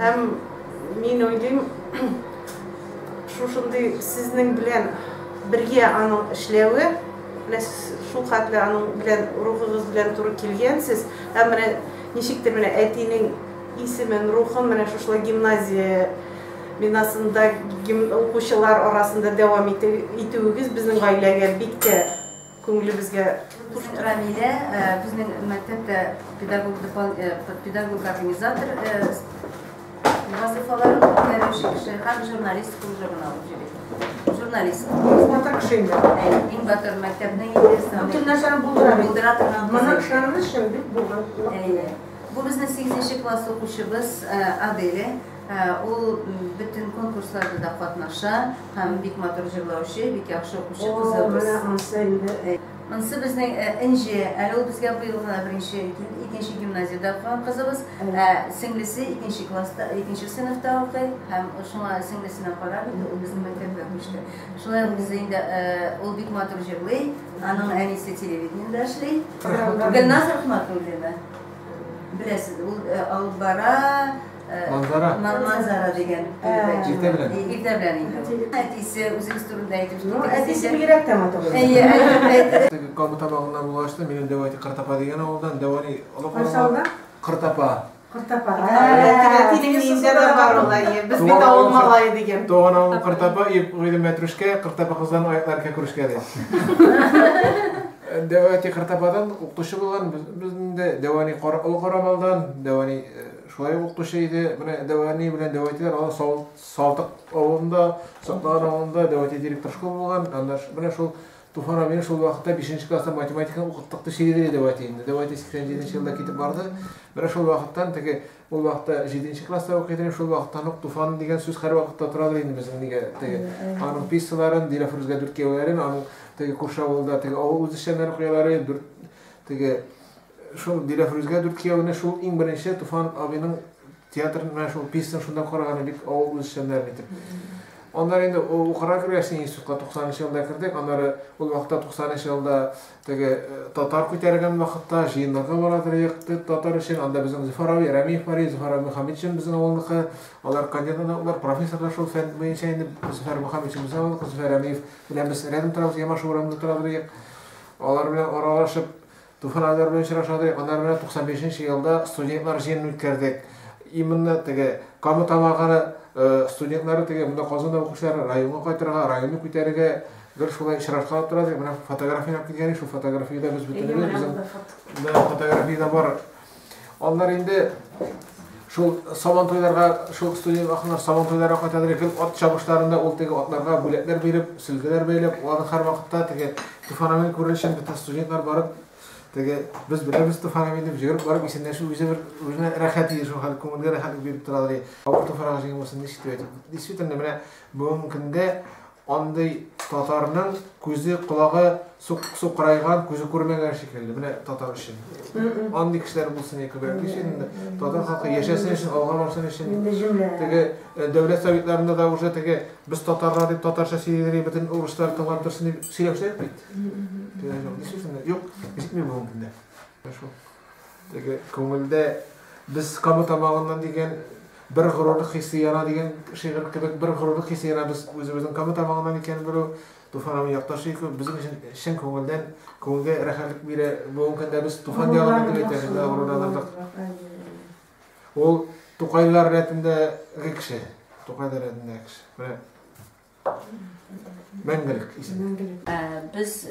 Һәм мин уйлыйм, шушындый сезнең белән бергә аның эшләве, менә шул хәтле аның белән рухыгыз белән туры килгәнсез, һәм менә ничектер менә әтинең исемен, рухын менә шушылай гимназия бинасында укучылар арасында дәвам итүегез безнең гаиләгә бик тә Күңелебезгә хуш тора Милә. Безнең мәктәп тә педагог дпан педагог организатор вазыйфаларын үткәрүче кеше һәм журналист күп журнал җибит. Журналист. Батыр кеше инде. Иң батыр мәктәпнең интересы. Бөтен нәрсәне булдыра. Булдыра торган. Моның шаны өчен бик булган. Әйе. Бу безнең 8 класс укучыбыз Аделя. Ул бөтен конкурсларда да катнаша. Һәм бик матур җырлаучы, бик яхшы укучы кызыбыз. О, менә ансы инде әй. Ансы безнең э, Энҗе, әле ул безгә быел гына беренче, икенче гимназиядә укыган кызыбыз, ә сеңлесе икенче класста, икенче сыйныфта укый, һәм шуңа сеңлесенә карап инде ул безнең мәктәпкә күчте. Шулай ук бездә инде э, ул бик матур җырлый, аның әнисе телевидениедә эшли. Гөлназ Рахматуллина. Беләсез, ул э, алып бара, Манзара. Манзара дигән. Иртә белән. Иртә белән инде. Әтисе үзегез турында әйтеп Ну, әтисе бигрәк тә матур. Әйе, әйе. Теге Кабы табагыннан булгачты, минем Дәвати Кыртапа дигән авылдан, Дәвани олы калага Кыртапа. Кыртапа. Әтинең инде дә бар ул, әйе. Без бит авыл малае дигән. Туган авыл Кыртапа, Гыйлем Мәтрүшкә, Кыртапа кыздан аяклар кәкүрешкә ди. Дәвати Кыртападан укытучы булган, безнең дә Дәвани Олы Карамалдан, Дәвани Шулай ук укытучы иде. Менә дәвани белән дәва итәләр. Аны Салтык авылында, Саклаган авылында дәва итә директор школ булган. Аннар менә шул Туфан абыйны шул вакытта 5 класста математиканы укыттык ди Шигедри дәва итә инде. Дәва итә 87 елда китеп барды. Менә шул вакыттан теге ул вакытта 7 класста укый идем. Шул вакыттан ук Туфан дигән сүз һәрвакытта торадыр инде безнең нигә теге аның писсаларын, Диләфрүзгә дүрт кияүләрен, аның теге күрше авылда теге авыл үзешчәннәре куялары, дүрт теге Шул Диләфрүзгә дүрт кияүне шул иң беренче Туфан абыйның театрын менә шул пьесаны шунда караганы бик авыл үзешчәннәрен итеп. Аннары инде укырга кергәч, институтка 90 елда кердек. Аннары ул вакытта 90 елда теге э, татар күтәргән вакытта җыеннарга барадыр якты татар өчен. Анда безнең Зөфәр абый Рәмиев бар, Зөфәр абый Мөхәммәтшин безнең авылныкы. Алар кандидатлар, профессорлар шул фән буенча инде Зөфәр Мөхәммәтшин безнең авылныкы, Зөфәр Рәмиев белән без рядом торабыз, Ямаш урамында торабыз. Алар белән аралашып Туфан Айдар белән очрашадык, аннары менә 95 нче елда студентлар җыенын үткәрдек. Именно теге Кама Тамагы студентлары теге монда Казанда укучылар районга кайтырга, районны күтәрергә гел шулай очрашкалап тора дип, менә фотография алып килгән, шул фотографиядә без бөтенебез, безнең фотография да бар. Аннары инде шул сабан туйларга, шул студент ахнар сабан туйларга кайтадыр икән, ат чабышларында ул теге атларга бүләкләр биреп, сөлгеләр бәйләп, алар һәр вакытта теге Туфанамен күренешен бөтен студентлар барып, теге без беләбез Туфанамен дип җыгырып барып исәнләшү үзе бер үзенә рәхәт иде шул хәл, күңелгә рәхәтлек биреп торалар. Авыр Туфанага җиңелмәсен ничек дип әйтеп. Действительно, менә бүгенге көндә Андый татарның күзе колагы сукырайган, күзе күрмәгән шикелле. Менә татар өчен. Андый кешеләр булсын яки күбрәк өчен инде. Татар халкы яшәсен өчен, алга барсын өчен. Теге э, дәүләт советларында да уже теге без татарлар дип татарча сөйлиләр, бөтен урыслар тыңлап торсын дип сөйләүчеләр бит. Юк, җитми бүгенге көндә. Теге күңелдә без кабы тамагыннан дигән бер горурлык хисе яна дигән шигырь кебек бер горурлык хисе яна без үзебезнең кабы тамагыннан икәнен белү Туфан абый якташы ике безнең өчен чын күңелдән күңелгә рәхәтлек бирә. Бүгенге көндә без Туфан ягында дип әйтәбез, горурланырбыз. Ул Тукайлар рәтендәге кеше. Тукайлар рәтендәге кеше. Менә Мәңгелек исеме. Без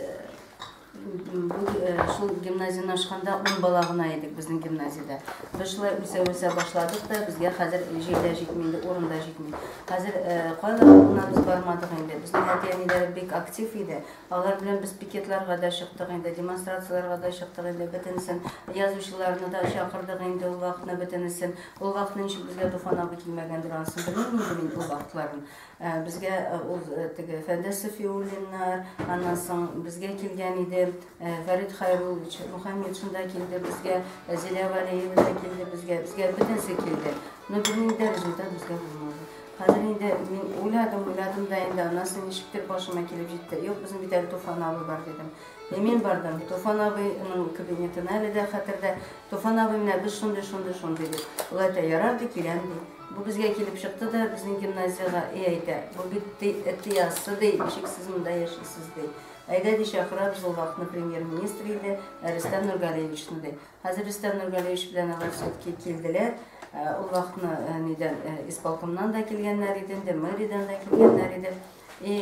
шул гимназияне ашканда ун бала гына идек безнең гимназиядә. Без шулай үсә-үсә башладык та, безгә хәзер җир дә җитми инде, урын да җитми. Хәзер кайда гына без бармадык инде. Безнең әти-әниләр бик актив иде. Алар белән без пикетларга да чыктык инде, демонстрацияләргә дә чыктык инде, бөтенесен. Язучыларны да чакырдык инде ул вакытны бөтенесен. Ул вакытны ничек безгә Туфан абый килмәгәндер, анысын белмим инде мин ул вакытларын. Ә безгә э, ул э, теге Фәндәс Сафиуллиннар, аннан соң безгә килгән иде э, Фәрит Хайруллович Мухаммедшин да килде безгә, э, Зилә Валиева да килде безгә, безгә бөтенесе килде. Но бернинди дә результат безгә булмады. Хәзер инде мин уйладым, уйладым да инде аннан соң ничектер башыма килеп җитте. Юк, безнең бит әле Туфан абый бар дидем. И мин бардым, Туфан абыйның кабинетына әле дә хәтердә. Туфан абый менә без шундый, шундый, шундый дип. Ул әйтә, ярар ди, киләм ди. Бу безгә килеп чыкты да безнең гимназиягә и әйтә, бу бит ти, эти яссы ди, ничек сез монда яшисез ди. Әйдә ди чакыра, без ул вакытны премьер-министр иде, ә Рөстәм Нургалиевичны ди. Хәзер Рөстәм Нургалиевич белән алар все-таки килделәр. Ә, Ул вакытны э, нидән э, исполкомнан да килгәннәр иде, инде мэриядән дә килгәннәр иде. И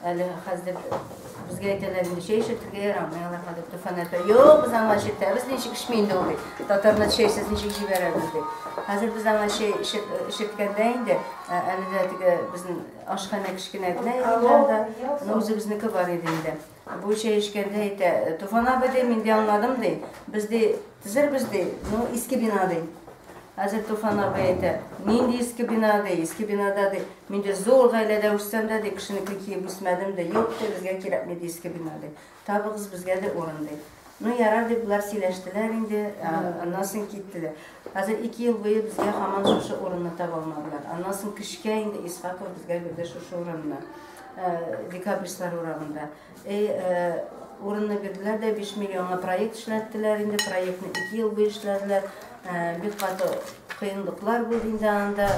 әле хәзер безгә әйтәләр инде чәй эчәргә ярамый алар хәзер туфан әйтә юк без аңа эчертәбез ничек эчми инде ул бит татарны чәйсез ничек җибәрәбез ди хәзер без аңа чәй эчеп эчерткәндә инде әле дә теге безнең ашханә кечкенә генә иде анда үзебезнеке бар иде инде Бу чәй эчкәндә әйтә, Туфан абый, ди, мин ди аңладым, ди, без ди төзербез, ди, ну, иске бина, ди. Хәзер Туфан абый әйтә, нинди иске бина, ди, иске бинада, ди, мин ди зур гаиләдә үссәм дә, ди, кешенеке киеп үсмәдем, ди, юк, ди, безгә кирәкми, ди, иске бина, ди. Табыгыз безгә, ди, урын, ди. Ну, ярар дип болар сөйләштеләр инде, аннан соң киттеләр. Хәзер ике ел буе безгә һаман шушы урынны таба алмадылар. Аннан соң кешкә инде Исхаков безгә бирде шушы урынны. Декабристлар урамында. Эй, урынны бирделәр дә 5 миллионга проект эшләттеләр инде. Проектны ике ел буе эшләделәр. Бик каты кыенлыклар булды инде анда,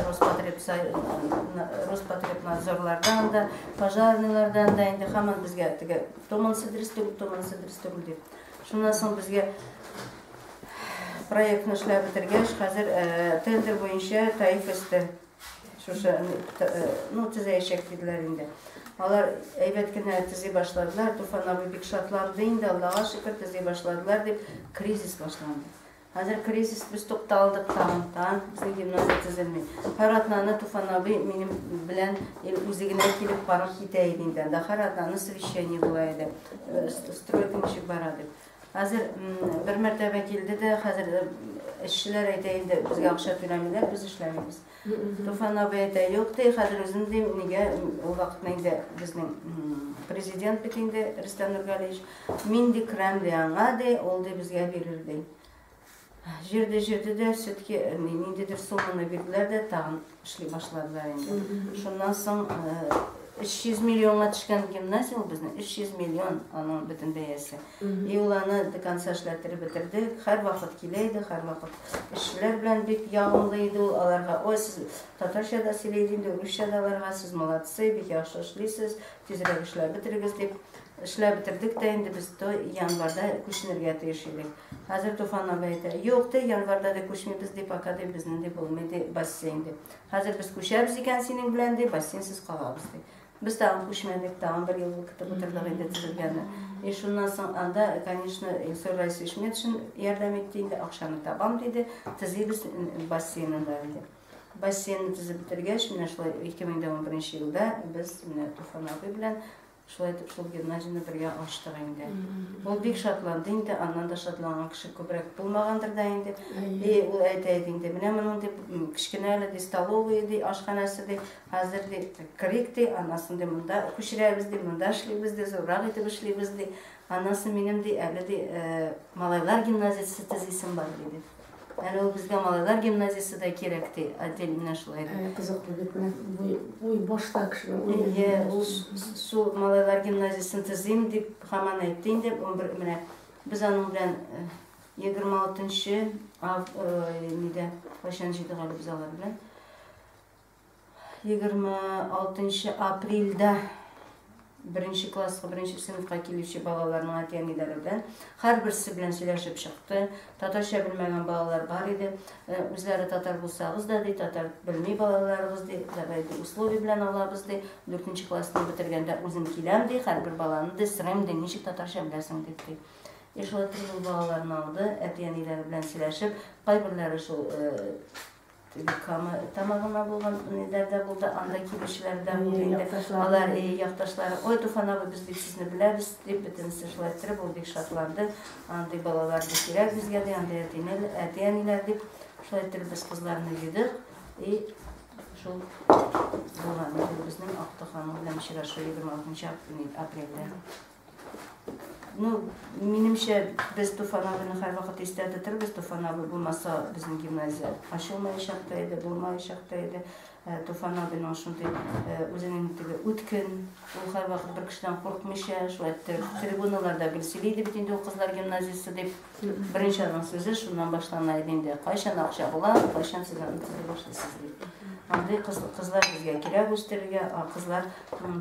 Роспотребнадзорлардан да, пожарныйлардан да инде һаман безгә теге Томан сыдырыс түгел, томан сыдырыс түгел дип. Шуннан соң безгә проектны эшләп бетергәч, хәзер э, тендер буенча Таиф өсте шушы э, ну төзәячәк диделәр инде. Алар әйбәт кенә төзи башладылар, Туфан абый бик шатланды инде, Аллага шөкер, төзи башладылар дип, кризис башланды. Хәзер кризис без тукталдык тагын, тагын безнең гимназия төзелми. Һәр атнаны Туфан абый минем белән үзе генә килеп карап китә иде инде. Анда һәр атнаны совещание була иде. Э, стройка ничек бара дип. Хәзер бер мәртәбә килде дә, хәзер э, эшчеләр әйтә инде, безгә акча түләмиләр, без эшләмибез. Туфан абый әйтә, юк ди, хәзер үзем дим, нигә ул вакытны инде безнең президент бит инде Рөстәм Нургалиевич, мин ди керәм ди аңа ди, ул ди безгә бирер ди. Җирде җирде дә сөтке ниндидер сумманы бирделәр дә тагын эшли башладылар инде. Шуннан соң 300 миллионга төшкән гимназия ул безнең, 300 миллион аның бөтен бәясе. Иоланы до конца эшләттереп бетердек. Һәрвакыт килә иде, һәрвакыт эшчеләр белән бик ягымлы иде ул. Аларга, Ой, сез татарча да сөйләйсез инде, урысча да аларга, сез молодцы, бик яхшы эшлисез, тизрәк эшләп бетерегез, дип. Эшләп бетердек тә инде без то январьда күченергә тиеш идек. Хәзер Туфан абый әйтә, Юк, ди, январьда ди күчмибез, ди, пока ди безнең ди булмый ди бассейн, ди. Хәзер без күчәбез икән синең белән, ди, бассейнсыз калабыз, ди. Без тагын күчмәдек, тагын бер ел көтеп утырдык инде төзелгәне. И шуннан соң анда, конечно, Илсур Раисович Метшин ярдәм итте инде, акчаны табам диде, төзибез бассейнны да диде. Бассейнны төзеп бетергәч, менә шулай 2011 елда без менә Туфан абый белән шулай итеп шул гимназияне бергә ачтык инде. Ул бик шатланды инде, аннан да шатланган кеше күбрәк булмагандыр да инде. И ул әйтә иде инде, менә моның дип кечкенә әле ди столовый ди, ашханәсе ди, Хәзер ди, керик ди, аннан ди монда күчерәбез ди, монда эшлибез ди, зуррак итеп эшлибез ди. Аннан соң минем ди, әле ди, малайлар гимназиясе төзисем бар диде. Әле ул безгә малайлар гимназиясе дә кирәк ди, отдел менә шулай ди. Кызыклы бит менә уй башта кешенең. Иә, ул су малайлар гимназиясен төзим дип хаман әйтте инде. 11 менә без аның белән 26 нчы ав, нидә, кайчан җыйдык әле без алар белән. 26 нчы апрельдә беренче класска, беренче сыйныфка килүче балаларның әти-әниләре белән һәрберсе белән сөйләшеп чыкты. Татарча белмәгән балалар бар иде. Э, үзләре татар булсагыз да, ди, татар белми балаларыбыз, ди, давай ди, условие белән алабыз, ди. 4 классны бетергәндә үзем киләм, ди, һәрбер баланы ди, сорыйм, ди, ничек татарча беләсең, дип, ди. И шулай итеп ул балаларны алды, әти-әниләре белән сөйләшеп, кайберләре шул э, Кама Тамагына булган ниләр дә булды, анда килүчеләр дә булды инде. Алар и якташлары, ой, Туфан абый, без бик сезне беләбез, дип бөтенесе шулай иттереп, ул бик шатланды. Андый балалар бик кирәк безгә, ди, андый әтинел, әти-әниләр дип, шулай иттереп без кызларны йөдек. И шул булган безнең Актык ханым белән очрашу 26 апрельдә. Ну, минемчә, без Туфан абыйны һәрвакыт истә тотырбыз. Туфан абый булмаса, безнең гимназия ачылмаячак та иде, булмаячак та иде. Э, Туфан абыйның шундый э, үзенең теге үткен, ул һәрвакыт бер кешедән курыкмыйча, шулай трибуналарда гел сөйли иде бит инде ул кызлар гимназиясе дип. Беренче аның сүзе шуннан башлана иде инде. Кайчан акча була, кайчан сез аны төзеп башлыйсыз дип. Андый кыз, кызлар безгә кирәк үстерергә, а кызлар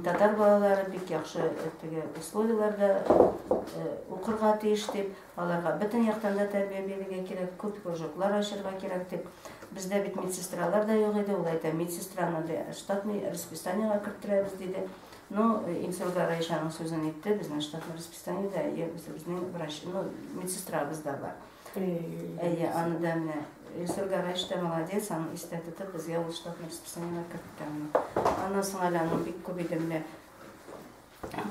татар балалары бик яхшы э, теге условияләрдә э, укырга тиеш дип, аларга бөтен яктан да тәрбия бирергә кирәк, күп кружоклар ачарга кирәк дип. Бездә бит медсестралар да юк иде, ул әйтә, медсестраны да штатный расписаниега керттерәбез диде. Ну, э, Инсурга Раишаның сүзен итте, безнең штатный расписание Санитария үзебезнең врач, ну, медсестрабыз да бар. Әйе, аны да менә Илсур Гараевич та молодец, аны истә тотып, безгә ул штатный расписаниега керткән. Аннан соң әле аның бик күп иде менә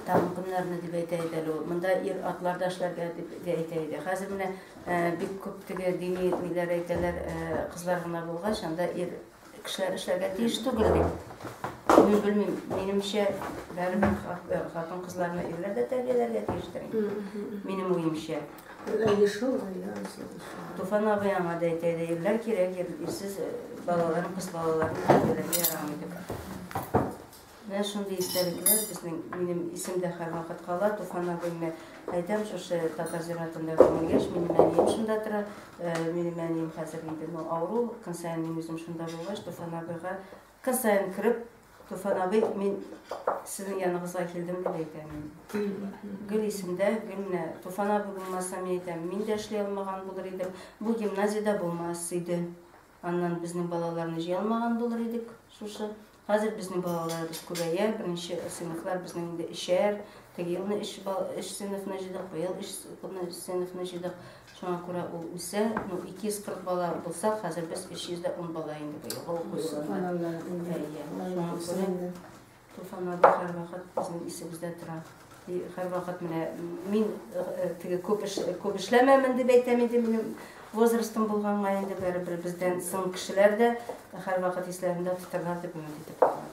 тагын көннәрне дип әйтә иде әле ул. Монда ир атлар да эшләргә дип дә әйтә иде. Хәзер менә э, бик күп теге дини ниләр әйтәләр, э, кызлар гына булгач, анда ир Кешеләр эшләргә тиеш түгел бит. Мин белмим, минемчә, бәребер хатын-кызларны ирләр дә тәрбияләргә тиештер. Минем уемча. Әле шул, әле шул. Туфан абый аңа да әйтә иде, ирләр кирәк, ирсез балаларын, кыз балаларын тәрбияләргә ярамый дип. Менә шундый истәлекләр безнең, минем исемдә һәрвакыт кала. Туфан абыйны әйтәм, шушы татар зиратында гомер яшь, минем әнием шунда тора. Э, минем әнием хәзер инде ну, авыру, көн саен мин үзем шунда булгач, Туфан абыйга көн саен кереп, Туфан абый, мин сезнең яныңызга килдем дип әйтәм инде. Гөл исемдә, гөл менә Туфан абый булмаса, мин әйтәм, мин дә эшли алмаган булыр идем. Бу гимназиядә булмас иде. Аннан безнең балаларны җыя алмаган булыр идек шушы. Хәзер безнең балаларыбыз күбәя, беренче сыйныфлар безнең инде эчәр. Теге елны эш эш сыйныфны җыйдык, быел эш сыйныфны җыйдык. Шуңа күрә ул үсә. Ну, 240 бала булса, хәзер без 310 бала инде быел. Шуңа күрә Туфаннарыбыз һәрвакыт безнең исебездә тора. И һәрвакыт менә мин э, э, теге күп эш күп эшләмәмен дип әйтәм инде минем возрастым булганга инде бәребер бездән соң кешеләр дә һәрвакыт исләрендә тотарлар дип өмет итеп калам.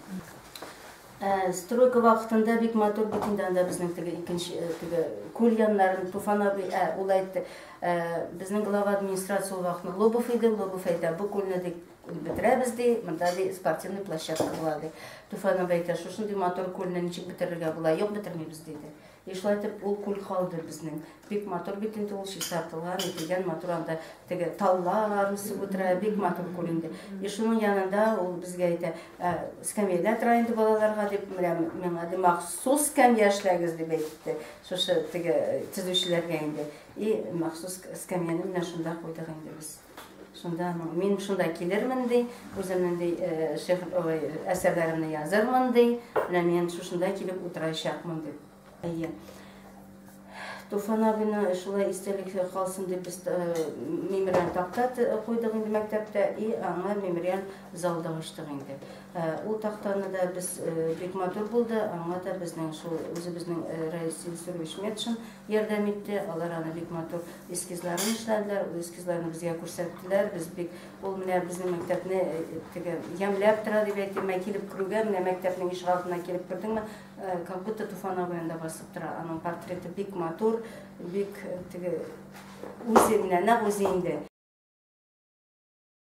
Э, стройка вакытында бик матур бит инде анда безнең теге икенче теге күл яннарын Туфан абый ә ул әйтте. Безнең глава администрация ул вакытны Лобов иде, Лобов әйтә, бу күлне дип Күл бетерәбез ди, монда ди спортивный площадка була ди. Туфан абый әйтә, шушындый матур күлне ничек бетерергә була? Юк, бетермибез диде. И шулай итеп ул күл калды безнең. Бик матур бит инде ул чистартылган, ителгән матур анда теге таллар үсеп утыра, бик матур күл инде. И шуның янында ул безгә әйтә, «Ә, скамьяда тора инде балаларга дип, менә миңа ди махсус скамья эшләгез дип әйтте. Шушы теге төзүчеләргә инде. И махсус скамьяны менә шунда куйдык инде без. Шунда мин шунда килермен ди, үземнең ди шигырь ой әсәрләремне язырмын ди, менә мин шушында килеп утырачакмын дип. Әйе. Туфан абыны шулай истәлек калсын дип без мемориаль такта куйдык инде мәктәптә и аңа мемориаль зал да ачтык инде. Ул тактаны да без бик матур булды, аңа да безнең шул үзебезнең Раил Сильсурович Метшин ярдәм итте. Алар аны бик матур эскизларын эшләделәр. Ул эскизларны безгә күрсәттеләр. Без бик ул менә безнең мәктәпне э, теге ямьләп тора дип әйтте. Менә килеп керүгә, менә мәктәпнең ишек алдына килеп кердеңме, э, как будто Туфан абый анда басып тора. Аның портреты бик матур, бик э, теге үзе менә нәкъ үзе инде.